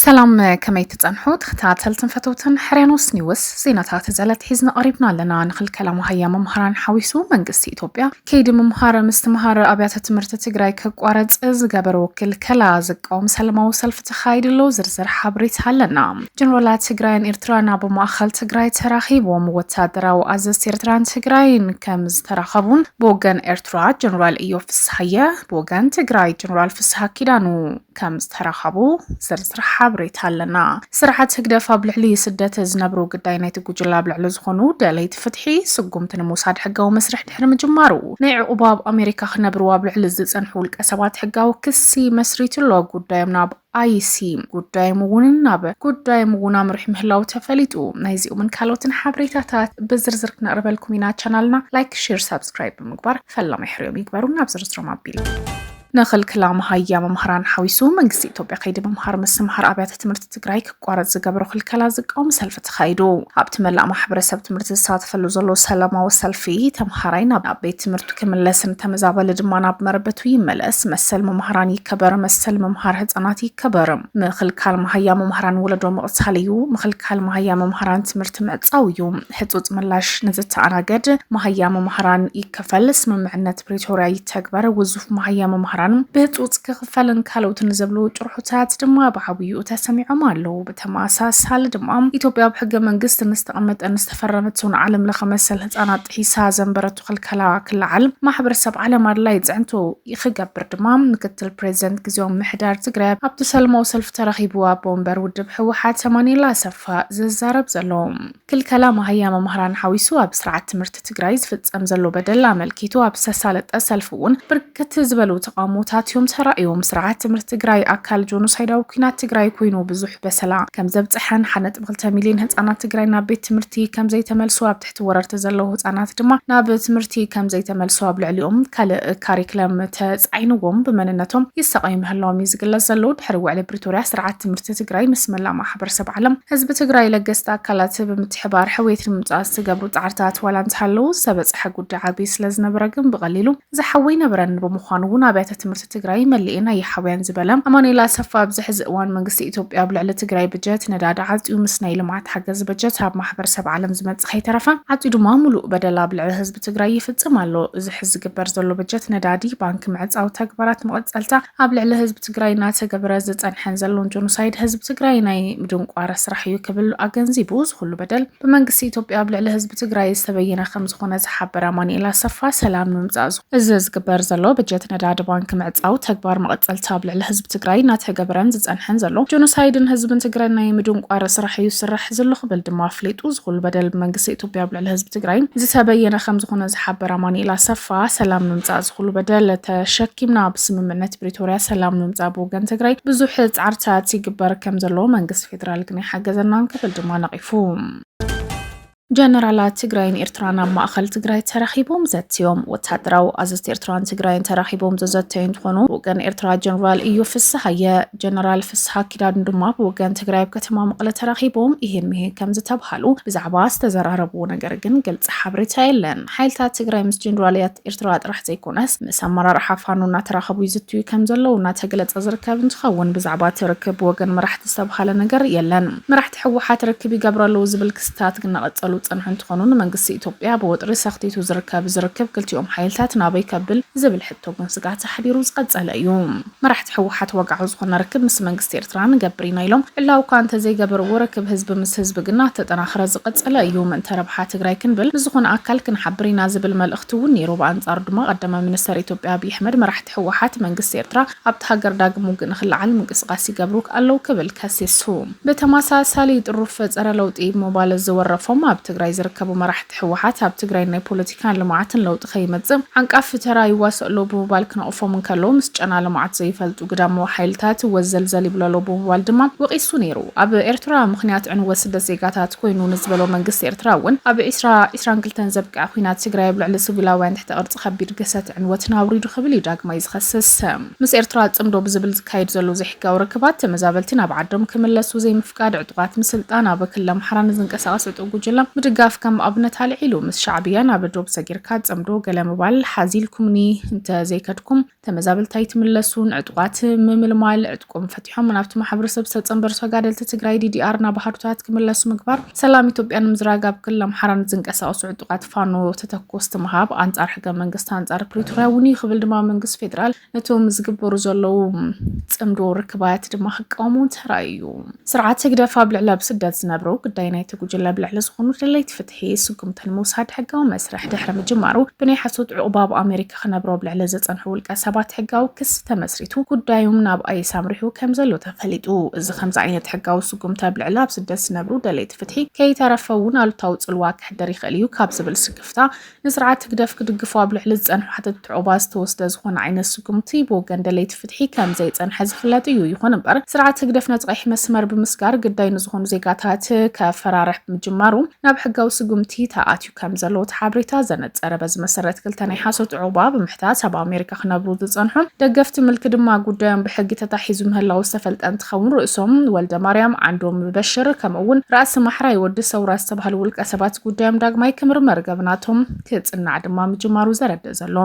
ሰላም ከመይ ትጸንሑ ተኸታተልትን ፈተውትን ሕርያኖስ ኒውስ ዜናታት ዘለትሒዝና ቀሪብና ኣለና ንኽልከላ መሃያ መምሃራን ሓዊሱ መንግስቲ ኢትዮጵያ ከይዲ ምምሃረ ምስትምሃረ ኣብያተ ትምህርቲ ትግራይ ክቋረፅ ዝገበርዎ ክልከላ ዝቃወም ሰለማዊ ሰልፊ ተኻይዱ ኣሎ። ዝርዝር ሓበሬታ ኣለና። ጀነራላት ትግራይን ኤርትራን ኣብ ማእኸል ትግራይ ተራኺቦም ወታደራዊ ኣዘዝቲ ኤርትራን ትግራይን ከም ዝተራኸቡን ብወገን ኤርትራ ጀነራል እዮብ ፍስሃየ ብወገን ትግራይ ጀነራል ፍስሃ ኪዳኑ ከም ዝተረኸቡ ዝርዝር ሓበሬታ ኣለና። ስርዓት ህግደፍ ኣብ ልዕሊ ስደት ዝነብሩ ግዳይ ናይቲ ጉጅለ ኣብ ልዕሊ ዝኾኑ ደለይቲ ፍትሒ ስጉምቲ ንምውሳድ ሕጋዊ መስርሕ ድሕሪ ምጅማሩ ናይ ዕቑባ ኣብ ኣሜሪካ ክነብሩ ኣብ ልዕሊ ዝጸንሑ ውልቀ ሰባት ሕጋዊ ክሲ መስሪቱ ኣሎ። ጉዳዮም ናብ ኣይሲ ጉዳዮም እውን ናብ ጉዳዮም እውን ኣምርሑ ምህላው ተፈሊጡ። ናይዚኦምን ካልኦትን ሓበሬታታት ብዝርዝር ክነቕርበልኩም ኢና። ቻናልና ላይክ፣ ሼር፣ ሳብስክራይብ ብምግባር ፈላማይ ሕርዮም ይግበሩ። ናብ ዝርዝሮም ኣቢልና ንክልክላ መሃያ መምህራን ሓዊሱ መንግስቲ ኢትዮጵያ ከይዲ ምምሃር ምስትምሃር ኣብያተ ትምህርቲ ትግራይ ክቋረፅ ዝገበሮ ክልከላ ዝቃወም ሰልፊ ተኻይዱ። ኣብቲ መላእ ማሕበረሰብ ትምህርቲ ዝሳተፈሉ ዘሎ ሰላማዊ ሰልፊ ተምሃራይ ናብ ቤት ትምህርቱ ክምለስን ተመዛበሊ ድማ ናብ መረበቱ ይመለስ፣ መሰል መምህራን ይከበር፣ መሰል ምምሃር ህፃናት ይከበር፣ ምክልካል መሃያ መምህራን ወለዶ ምቕታል እዩ፣ ምክልካል መሃያ መምህራን ትምህርቲ ምዕፃው እዩ፣ ሕፁፅ ምላሽ ንዝተኣናገድ መሃያ መማህራን ይከፈል፣ ስምምዕነት ፕሪቶርያ ይተግበር፣ ውዙፍ መሃያ መማህራን ብህፁፅ ክኽፈልን ካልኦትን ዝብሉ ጭርሖታት ድማ ብዓብይኡ ተሰሚዖም ኣለዉ። ብተመሳሳሊ ድማ ኢትዮጵያ ኣብ ሕገ መንግስቲ ንዝተቐመጠን ዝተፈረመቶን ዓለም ለኸ መሰል ህፃናት ጥሒሳ ዘንበረቶ ክልከላ ክለዓል ማሕበረሰብ ዓለም ኣድላይ ፅዕንቶ ክገብር ድማ ምክትል ፕሬዚደንት ግዜያዊ ምምሕዳር ትግራይ ኣብቲ ሰለማዊ ሰልፊ ተረኺቡ ኣቦ ወንበር ውድብ ህወሓት ኣማኒኤል ኣሰፋ ዝዛረብ ዘሎ። ክልከላ መሃያ መማህራን ሓዊሱ ኣብ ስርዓት ትምህርቲ ትግራይ ዝፍፀም ዘሎ በደል ኣመልኪቱ ኣብ ዝተሳለጠ ሰልፊ እውን ብርክት ዝበሉ ተቓውሞታት እዮም ተራእዮም። ስርዓት ትምህርቲ ትግራይ ኣካል ጆኖሳይዳዊ ኩናት ትግራይ ኮይኑ ብዙሕ በሰላ ከምዘብፀሐን ሓደ ነጥቢ ክልተ ሚሊዮን ህፃናት ትግራይ ናብ ቤት ትምህርቲ ከምዘይተመልሱ ኣብ ትሕቲ ወረርቲ ዘለዉ ህፃናት ድማ ናብ ትምህርቲ ከምዘይተመልሱ ኣብ ልዕሊኦም ካልእ ካሪክለም ተፃዒንዎም ብመንነቶም ይሳቐዩ ምህላዎም እዩ ዝግለፅ ዘሎ ድሕሪ ውዕሊ ዙርያ ስርዓት ትምህርቲ ትግራይ ምስ መላእ ማሕበረሰብ ዓለም ህዝቢ ትግራይ ለገስቲ ኣካላት ብምትሕባር ሕውየት ንምምፃእ ዝተገብሩ ፃዕርታት ዋላ እንተሃለዉ ዝተበፅሐ ጉዳይ ዓብዪ ስለዝነበረ ግን ብቐሊሉ ዝሓዊ ኣይነበረን። ብምዃኑ እውን ኣብያተ ትምህርቲ ትግራይ መሊኤን ኣይሓውያን ዝበለ ኣማኑኤል ኣሰፋ ኣብዚ ሕዚ እዋን መንግስቲ ኢትዮጵያ ኣብ ልዕሊ ትግራይ በጀት ነዳዲ ዓፅዩ ምስ ናይ ልምዓት ሓገዝ በጀት ኣብ ማሕበረሰብ ዓለም ዝመፅእ ከይተረፈ ዓፅዩ ድማ ሙሉእ በደል ኣብ ልዕሊ ህዝቢ ትግራይ ይፍፅም ኣሎ። እዚ ሕዚ ዝግበር ዘሎ በጀት ነዳዲ ባንኪ ምዕፃው ተግባራት መቐፀልታ ኣብ ልዕሊ ህዝቢ ትግራይ እናተገበረ ዝፀንሐን ዘሎን ጆኖሳይድ ህዝቢ ትግራይ ናይ ምድንቋር ስራሕ እዩ ክብል ኣገንዚቡ፣ እዚ ኹሉ በደል ብመንግስቲ ኢትዮጵያ ኣብ ልዕሊ ህዝቢ ትግራይ ዝተበየነ ከምዝኾነ ዝሓበረ ኣማኒኤል ኣሰፋ፣ ሰላም ንምምፃእ እዚ ዝግበር ዘሎ በጀት ነዳዲ ባንኪ ምዕፃው ተግባር መቐፀልታ ኣብ ልዕሊ ህዝቢ ትግራይ እናተገበረን ዝፀንሐን ዘሎ ጆኖሳይድን ህዝብን ትግራይ ናይ ምድንቋር ስራሕ እዩ ዝስራሕ ዝሎ ክብል ድማ ኣፍሊጡ፣ እዚ ኹሉ በደል ብመንግስቲ ኢትዮጵያ ኣብ ልዕሊ ህዝቢ ትግራይ ዝተበየነ ከምዝኾነ ዝሓበረ ኣማኒኤል ኣሰፋ፣ ሰላም ንምምፃእ ኩሉ በደል ተሸኪምና ብስምምዕነት ፕሪቶርያ ሰላም ንምምፃእ ብወገን ትግራይ ብዙሕ ፃዕርታት ይግበር ከም ዘለዎ መንግስቲ ፌዴራል ግን ኣይሓገዘናን ክብል ድማ ነቒፉ። ጀነራላት ትግራይን ኤርትራን ኣብ ማእኸል ትግራይ ተራኺቦም ዘትዮም። ወታደራዊ ኣዘዝቲ ኤርትራን ትግራይን ተራኺቦም ዘዘተዩ እንትኾኑ ብወገን ኤርትራ ጀነራል እዩ ፍስሃየ፣ ጀነራል ፍስሃ ኪዳን ድማ ብወገን ትግራይ ኣብ ከተማ መቐለ ተራኺቦም ይህን ምሂን ከም ዝተብሃሉ ብዛዕባ ዝተዘራረብዎ ነገር ግን ግልፂ ሓበሬታ የለን። ሓይልታት ትግራይ ምስ ጀኔራልያት ኤርትራ ጥራሕ ዘይኮነስ ምስ ኣመራርሓ ፋኖ እናተራኸቡ ይዝትዩ ከምዘለዉ እናተገለፀ ዝርከብ እንትኸውን ብዛዕባ እቲ ርክብ ብወገን መራሕቲ ዝተብሃለ ነገር የለን። መራሕቲ ህወሓት ርክብ ይገብሩ ኣለዉ ዝብል ክስታት እናቐፀሉ ዝፀንሑ እንትኾኑ ንመንግስቲ ኢትዮጵያ ብወጥሪ ሰኽቲቱ ዝርከብ እዚ ርክብ ክልቲኦም ሓይልታት ናበይ ከብል ዝብል ሕቶ ግን ስግኣት ኣሕዲሩ ዝቐፀለ እዩ። መራሕቲ ህወሓት ወግዓዊ ዝኾነ ርክብ ምስ መንግስቲ ኤርትራ ንገብር ኢና ኢሎም ዕላዊ እኳ እንተዘይገበርዎ ርክብ ህዝቢ ምስ ህዝቢ ግና እተጠናኸረ ዝቐፀለ እዩ። ምእንተ ረብሓ ትግራይ ክንብል ንዝኾነ ኣካል ክንሓብር ኢና ዝብል መልእኽቲ እውን ነይሩ። ብኣንፃሩ ድማ ቀዳማይ ሚኒስተር ኢትዮጵያ ኣብይ ኣሕመድ መራሕቲ ህወሓት መንግስቲ ኤርትራ ኣብታ ሃገር ዳግም ውግእ ንክለዓል ምንቅስቓስ ይገብሩ ኣለው ክብል ከሲሱ። ብተመሳሳሊ ጥሩፍ ፀረ ለውጢ ብምባል ዝወረፎም ኣብ ትግራይ ዝርከቡ መራሕቲ፣ ህወሓት ኣብ ትግራይ ናይ ፖለቲካን ልምዓትን ለውጢ ከይመፅእ ዓንቃፊ ተራ ይዋስእ ኣሎ ብምባል ክነቕፎም እንከሎ ምስ ጨና ልምዓት ዘይፈልጡ ግዳማዊ ሓይልታት ወዘልዘል ይብሉ ኣሎ ብምባል ድማ ወቒሱ ነይሩ። ኣብ ኤርትራ ምኽንያት ዕንወት ስደት ዜጋታት ኮይኑ ንዝበሎ መንግስቲ ኤርትራ እውን ኣብ ዕስራ ዕስራን ክልተን ዘብቅዐ ኲናት ትግራይ ኣብ ልዕሊ ስቪላውያን ትሕተ ቅርፂ ከቢድ ግህሰት ዕንወትን ኣውሪዱ ክብል እዩ ዳግማይ ዝኸስስ። ምስ ኤርትራ ፅምዶ ብዝብል ዝካየድ ዘሎ ዘይሕጋዊ ርክባት፣ ተመዛበልቲ ናብ ዓዶም ክምለሱ ዘይምፍቃድ፣ ዕጡቓት ምስልጣን፣ ኣብ ክልል ኣምሓራ ንዝንቀሳቐስ ዕጡቕ ጉጅለ ምድጋፍ ከም ኣብነት ኣልዒሉ። ምስ ሻዕብያ ናብ ዶብ ሰጊርካ ጽምዶ ገለ ምባል ሓዚ ኢልኩምኒ እንተ ዘይከድኩም፣ ተመዛበልቲ ኣይትምለሱን፣ ዕጡቓት ምምልማል፣ ዕጥቆም ፈቲሖም ናብቲ ማሕበረሰብ ዝተጸንበሩ ተጋደልቲ ትግራይ፣ ዲዲኣር፣ ናብ ኣሃዱታት ክምለሱ ምግባር፣ ሰላም ኢትዮጵያ ንምዝራግ ኣብ ክልል ኣምሓራ ንዝንቀሳቐሱ ዕጡቓት ፋኖ ተተኮስቲ ምሃብ፣ ኣንጻር ሕገ መንግስቲ ኣንጻር ፕሪቶርያ እውን እዩ ክብል ድማ መንግስቲ ፌደራል ነቶም ዝግበሩ ዘለዉ ፅምዶ ርክባት ድማ ክቃወሙ ተራእዩ። ስርዓት ህግደፍ ኣብ ልዕሊ ኣብ ስደት ዝነብሩ ግዳይ ናይቲ ጉጅለ ብልዕሊ ዝኾኑ ደለይቲ ፍትሒ ስጉምቲ ንምውሳድ ሕጋዊ መስርሕ ድሕሪ ምጅማሩ ብናይ ሓሶት ዕቑባ ኣብ ኣሜሪካ ክነብሩ ኣብ ልዕሊ ዘፀንሑ ውልቀ ሰባት ሕጋዊ ክስ ተመስሪቱ ጉዳዮም ናብ ኣይስ ኣምሪሑ ከም ዘሎ ተፈሊጡ። እዚ ከምዚ ዓይነት ሕጋዊ ስጉምቲ ኣብ ልዕሊ ኣብ ስደት ዝነብሩ ደለይቲ ፍትሒ ከይተረፈ እውን ኣሉታዊ ፅልዋ ከሕድር ይኽእል እዩ ካብ ዝብል ስክፍታ ንስርዓት ህግደፍ ክድግፉ ኣብ ልዕሊ ዝጸንሑ ሓተትቲ ዑቕባ ዝተወስደ ዝኾነ ዓይነት ስጉምቲ ብወገን ደለይቲ ፍትሒ ከም ዘይጸንሐ ዝፍለጥ እዩ። ይኹን እምበር ስርዓት ህግደፍ ነቲ ቀይሕ መስመር ብምስጋር ግዳይ ንዝኾኑ ዜጋታት ከፈራርሕ ብምጅማሩ ናብ ሕጋዊ ስጉምቲ ተኣትዩ ከም ዘሎ እቲ ሓበሬታ ዘነጸረ። በዚ መሰረት ክልተ ናይ ሓሶት ዑቕባ ብምሕታት ኣብ ኣሜሪካ ኢትዮጵያ ክነብሩ ዝጸንሑን ደገፍቲ ምልኪ ድማ ጉዳዮም ብሕጊ ተታሒዙ ምህላዉ ዝተፈልጠ እንትኸውን ርእሶም ወልደማርያም፣ ዓንዶም በሽር ከምኡ'ውን ራእሲ ማሕራይ ወዲ ሰውራ ዝተባህሉ ውልቀ ሰባት ጉዳዮም ዳግማይ ክምርመር ገብናቶም ክጽናዕ ድማ ምጅማሩ ዘረድእ ዘሎ።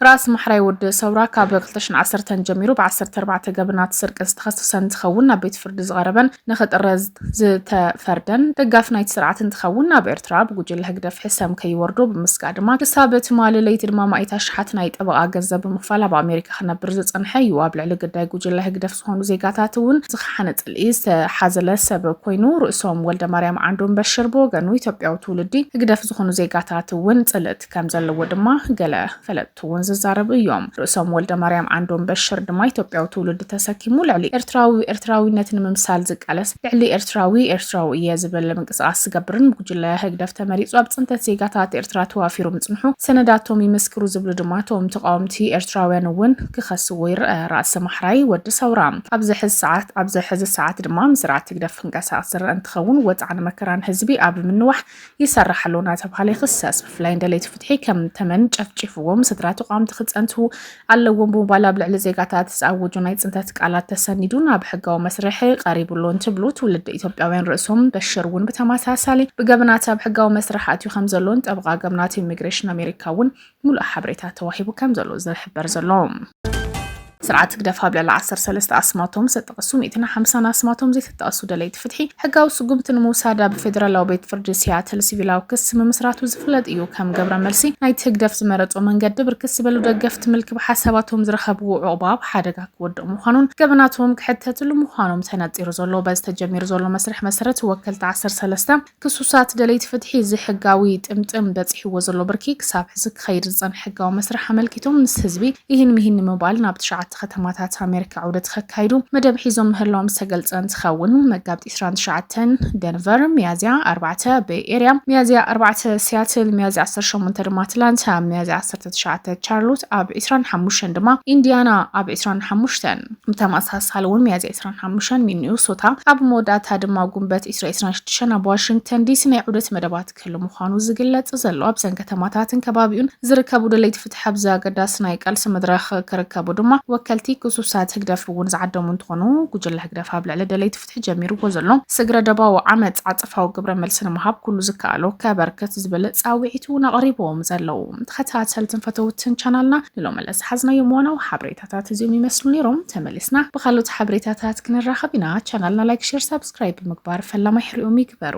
ራእሲ ማሕራይ ወዲ ሰውራ ካብ ክልተ ሽሕን ዓሰርተን ጀሚሩ ብዓሰርተ ኣርባዕተ ገብናት ስርቂ ዝተኸሰሰ እንትኸውን ናብ ቤት ፍርዲ ዝቐረበን ንክጥረዝ ዝተፈርደን ደጋፊ ናይቲ ስርዓት እንትኸውን ኣብ ኤርትራ ብጉጅለ ህግደፍ ሕሰም ከይወርዶ ብምስጋእ ድማ ክሳብ ትማሊ ለይቲ ድማ ማኢት ኣሽሓት ናይ ጠበቓ ገንዘብ ብምኽፋል ኣብ ኣሜሪካ ክነብር ዝጸንሐ እዩ። ኣብ ልዕሊ ግዳይ ጉጅለ ህግደፍ ዝኾኑ ዜጋታት እውን ዝኸሓነ ጽልኢ ዝተሓዘለ ሰብ ኮይኑ ርእሶም። ወልደማርያም ዓንዶም በሽር ብወገኑ ኢትዮጵያዊ ትውልዲ ህግደፍ ዝኾኑ ዜጋታት እውን ጽልእ ከም ዘለዎ ድማ ገለ ፈለጥቲ እውን ዝዛረቡ እዮም። ርእሶም ወልደማርያም ዓንዶም በሽር ድማ ኢትዮጵያዊ ትውልዲ ተሰኪሙ ልዕሊ ኤርትራዊ ኤርትራዊነት ንምምሳል ዝቃለስ ልዕሊ ኤርትራዊ ኤርትራዊ እየ ዝብል ምንቅስቓስ ዝገብርን ብጉጅለ ህግደፍ ተመሪጹ ኣብ ጽንተት ዜጋታት ኤርትራ ተዋፊሩ ምጽንሑ ሰነዳቶም ይምስክሩ ዝብሉ ድማ እቶም ተቓወምቲ ኤርትራውያን እውን ክኸስዎ ይርአ። ራእሲ ማሕራይ ወዲ ሰውራ ኣብዚ ሕዚ ሰዓት ኣብዚ ሕዚ ሰዓት ድማ ምስ ስርዓት ህግደፍ ክንቀሳቐስ ዝርአ እንትኸውን ወጽዓን መከራን ህዝቢ ኣብ ምንዋሕ ይሰርሕ ኣሎ እናተብሃለ ይኽሰስ። ብፍላይ ንደለይቲ ፍትሒ ከም ተመን ጨፍጪፍዎም፣ ስድራ ተቋምቲ ክጸንቱ ኣለዎም ብምባል ኣብ ልዕሊ ዜጋታት ዝኣወጆ ናይ ጽንተት ቃላት ተሰኒዱ ናብ ሕጋዊ መስርሕ ቀሪቡ ኣሎ እንትብሉ፣ ትውልደ ኢትዮጵያውያን ርእሶም በሽር እውን ብተመሳሳሊ ብገበናት ኣብ ሕጋዊ መስርሕ ኣትዩ ከም ዘሎን ጠበቓ ገበናት ኢሚግሬሽን ኣሜሪካ እውን ሙሉእ ሓበሬታ ተዋሂቡ ከም ዘሎ ዝሕበር ዘሎ። ስርዓት ህግደፍ ኣብ ልዕሊ ዓሰርተ ሰለስተ ኣስማቶም ዝተጠቐሱ ሚእትን ሓምሳን ኣስማቶም ዘይተጠቐሱ ደለይቲ ፍትሒ ሕጋዊ ስጉምቲ ንምውሳድ ኣብ ፌደራላዊ ቤት ፍርዲ ሲያትል ሲቪላዊ ክሲ ምምስራቱ ዝፍለጥ እዩ። ከም ገብረ መልሲ ናይቲ ህግደፍ ዝመረጾ መንገዲ ብርክት ዝበሉ ደገፍቲ ምልኪ ብሓሳባቶም ዝረኸብዎ ዑቕባ ኣብ ሓደጋ ክወድቕ ምዃኑን ገበናቶም ክሕተትሉ ምዃኖም ተነጺሩ ዘሎ። በዚ ተጀሚሩ ዘሎ መስርሕ መሰረት ወከልቲ ዓሰርተ ሰለስተ ክሱሳት ደለይቲ ፍትሒ እዚ ሕጋዊ ጥምጥም በጺሕዎ ዘሎ ብርኪ ክሳብ ሕዚ ክኸይድ ዝጸንሐ ሕጋዊ መስርሕ ኣመልኪቶም ምስ ህዝቢ ኢሂን ምሂን ንምባል ናብ ትሽዓተ ከተማታት ኣሜሪካ ዑደት ከካይዱ መደብ ሒዞም ምህላዎም ዝተገልጸ እንትኸውን መጋቢት ዕስራን ትሽዓተን ደንቨር፣ ሚያዝያ ኣርባዕተ በይ ኤርያ፣ ሚያዝያ ኣርባዕተ ሲያትል፣ ሚያዝያ ዓሰርተ ሸሞንተ ድማ ኣትላንታ፣ ሚያዝያ ዓሰርተ ትሽዓተ ቻርሎት፣ ኣብ ዕስራን ሓሙሽተን ድማ ኢንዲያና፣ ኣብ ዕስራን ሓሙሽተን። ብተመሳሳሊ እውን ሚያዝያ 25 ሚኒሶታ ኣብ መወዳእታ ድማ ጉንበት ኢስራ 26 ኣብ ዋሽንግተን ዲሲ ናይ ዑደት መደባት ክህሉ ምዃኑ ዝግለጽ ዘሎ ኣብዘን ከተማታትን ከባቢኡን ዝርከቡ ደለይቲ ፍትሒ ኣብዚ ኣገዳሲ ናይ ቃልሲ መድረኽ ክርከቡ ድማ ወከልቲ ክሱሳት ህግደፍ እውን ዝዓደሙ እንትኾኑ ጉጅለ ህግደፍ ኣብ ልዕሊ ደለይቲ ተጀሚርዎ ዘሎ ስግረ ደባዊ ዓመጽ ዓጸፋዊ ግብረ መልሲ ንምሃብ ኩሉ ዝከኣሎ ከበርክት ዝብል ጻውዒት እውን ኣቕሪቦም ዘለዉ ተኸታተልትን ፈተውትን ቻናልና ንሎሚ ለዝሓዝናዮም ዋናዊ ሓበሬታታት እዚኦም ይመስሉ ነይሮም። ተመሊስና ብካልኦት ሓበሬታታት ክንራኸብ ኢና። ቻናልና ላይክ፣ ሼር፣ ሳብስክራይብ ብምግባር ፈላማይ ሕሪኦም ይግበሩ።